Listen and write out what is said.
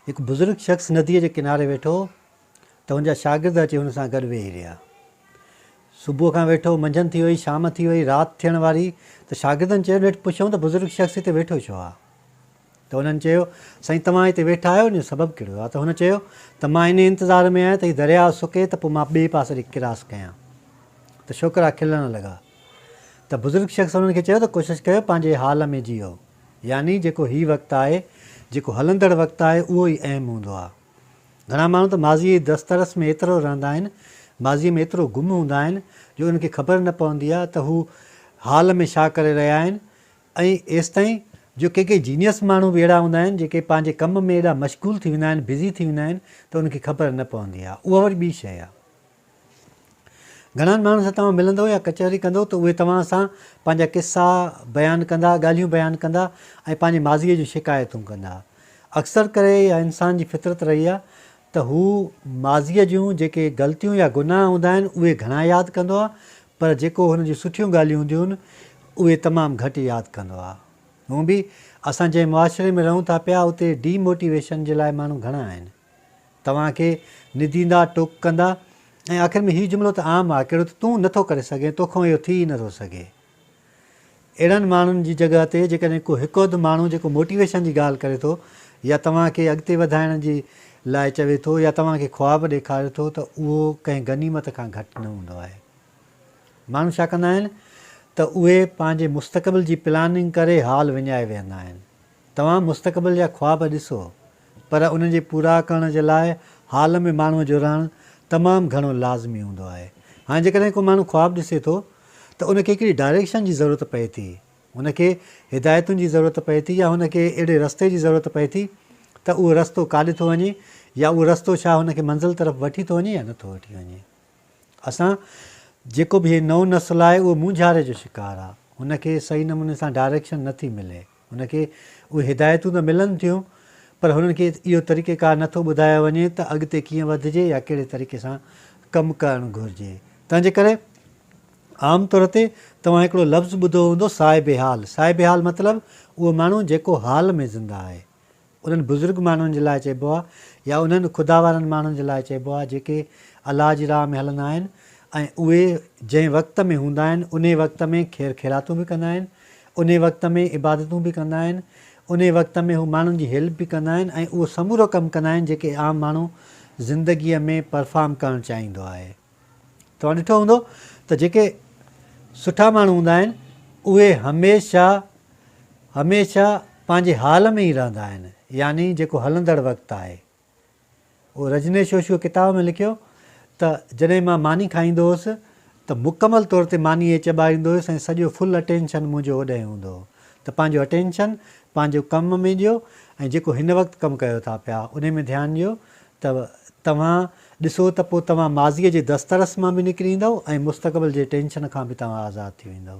هڪ بزرگ شخص نديء جي ڪناري ويٺو ته هن جا شاگرد اچي هن سان گڏ ويهي رهيا. صبح کان ويٺو، منجهند ٿي وئي، شام ٿي وئي، رات ٿيڻ واري ته شاگردن چيو، نيٺ پڇيائون ته بزرگ شخص هتي ويٺو ڇو آ؟ ته انهن چيو، سائين توهان هتي ويٺا آهيو، ان جو سبب ڪهڙو آ؟ ته هن چيو ته مان انهيء انتظار ۾ آهيان ته هي درياء سڪي ته پوء مان ٻئي پاسي ڏي ڪراس ڪيان. ته ڇوڪرا کلڻ لڳا. ته بزرگ شخص انهن کي چيو ته ڪوشش ڪيو پنهنجي حال ۾ جيئو. يعني جيڪو هي وقت آهي، جيڪو هلندڙ وقت آهي اهو ئي اهم هوندو آهي. گهڻا ماڻهو ته ماضيء جي دسترس ۾ ايترو رهندا آهن، ماضيء ۾ ايترو گم هوندا آهن جو انهن کي خبر نه پوندي آهي ته هو حال ۾ ڇا ڪري رهيا آهن ۽ ايستائين جو ڪي ڪي جينيس ماڻهو به اهڙا هوندا آهن جيڪي پنهنجي ڪم ۾ ايڏا مشغول ٿي ويندا آهن، بزي ٿي ويندا آهن ته انهن کي خبر نه پوندي آهي. اها وري ٻي شيء آهي. گهڻن ماڻهن سان توهان ملندو يا ڪچهري ڪندو ته اهي توهان سان پنهنجا قصا بيان ڪندا، ڳالهيون بيان ڪندا ۽ پنهنجي ماضيء جون شڪايتون ڪندا. اڪثر ڪري اها انسان جي فطرت رهي آهي ته هو ماضيء جون جيڪي غلطيون يا گناهه هوندا آهن اهي گهڻا ياد ڪندو آهي پر جيڪو هن جون سٺيون ڳالهيون هونديون آهن اهي تمام گهٽ ياد ڪندو آهي. هونئن به اسان جنهن معاشري ۾ رهون ٿا پيا اتي ڊي موٽيويشن جي لاء ماڻهو گهڻا آهن. توهان کي نديندا، ٽوڪ ڪندا ۽ آخر ۾ هي جملو ته عام آهي ڪهڙو ته تون نه ٿو ڪري سگهين، تو کان اهو ٿي ئي نه ٿو سگهي. اهڙن ماڻهن جي جڳهه تي جيڪڏهن ڪو هڪ اڌ ماڻهو جيڪو موٽيويشن جي ڳالهه ڪري ٿو يا توهان کي اڳتي وڌائڻ جي لاء چوي ٿو يا توهان کي خواب ڏيکاري ٿو ته اهو ڪنهن غنيمت کان گهٽ نه هوندو آهي. ماڻهو ڇا ڪندا آهن ته اهي پنهنجي مستقبل جي پلاننگ ڪري حال وڃائي ويهندا آهن. توهان مستقبل جا خواب ڏسو پر انهن جي پورا ڪرڻ جي لاء حال ۾ ماڻهو جو رهڻ تمام گهڻو لازمي هوندو آهي. هاڻي جيڪڏهن ڪو ماڻهو خواب ڏسي ٿو ته ان کي هڪڙي ڊائريڪشن جي ضرورت پئي ٿي، هن کي هدايتن جي ضرورت پئي ٿي يا هن کي اهڙي رستي جي ضرورت پئي ٿي ته اهو رستو ڪاڏي ٿو وڃي يا اهو رستو ڇا هن کي منزل طرف وٺي ٿو وڃي يا نه ٿو وٺي وڃي. اسان جيڪو به هي نئون نسل آهي اهو مونجهاري جو شڪار آهي، هن کي صحيح نموني سان ڊائريڪشن نه ٿي ملي. هن کي اهي هدايتون ته ملن ٿيون پر هنن کي اهو طريقه ڪار نه ٿو ٻڌايو وڃي ته اڳتي ڪيئن وڌجي يا ڪهڙي طريقي سان ڪم ڪرڻ گهرجي تنهنجي ڪري عام طور تي توهان هڪڙو لفظ ٻڌو هوندو صاحب حال صاحب حال مطلب اهو ماڻهو جيڪو حال ۾ زنده آهي انهن بزرگ ماڻهن جي لاء چئبو آهي يا انهن خدا وارن ماڻهن جي لاء چئبو آهي جيڪي الله جي راهه ۾ هلندا آهن ۽ اهي جنهن وقت ۾ هوندا آهن انهي وقت ۾ خير خيراتون به ڪندا آهن انهي وقت ۾ عبادتون به ڪندا آهن انهي وقت ۾ هو ماڻهن جي هيلپ به ڪندا آهن ۽ اهو سمورو ڪم ڪندا آهن جيڪي عام ماڻهو زندگي ۾ پرفارم ڪرڻ چاهيندو آهي. توهان ڏٺو هوندو ته جيڪي سٺا ماڻهو هوندا آهن اهي هميشه هميشه پنهنجي حال ۾ ئي رهندا آهن يعني جيڪو هلندڙ وقت آهي. او رجنيش شوشوء ڪتاب ۾ لکيو ته جڏهن مان ماني کائيندو هوس ته مڪمل طور تي ماني ئي چٻائيندو هيس ۽ سڄو فل اٽينشن منهنجو اوڏهين هوندو هو ته پنهنجو اٽينشن پنهنجو ڪم ۾ ڏيو ۽ جيڪو هن وقت ڪم ڪيو ٿا پيا انهي ۾ ڌيان ڏيو ته توهان ڏسو ته پوء توهان ماضيء جي دسترس مان به نڪري ايندؤ ۽ مستقبل جي ٽينشن کان به توهان آزاد ٿي ويندؤ.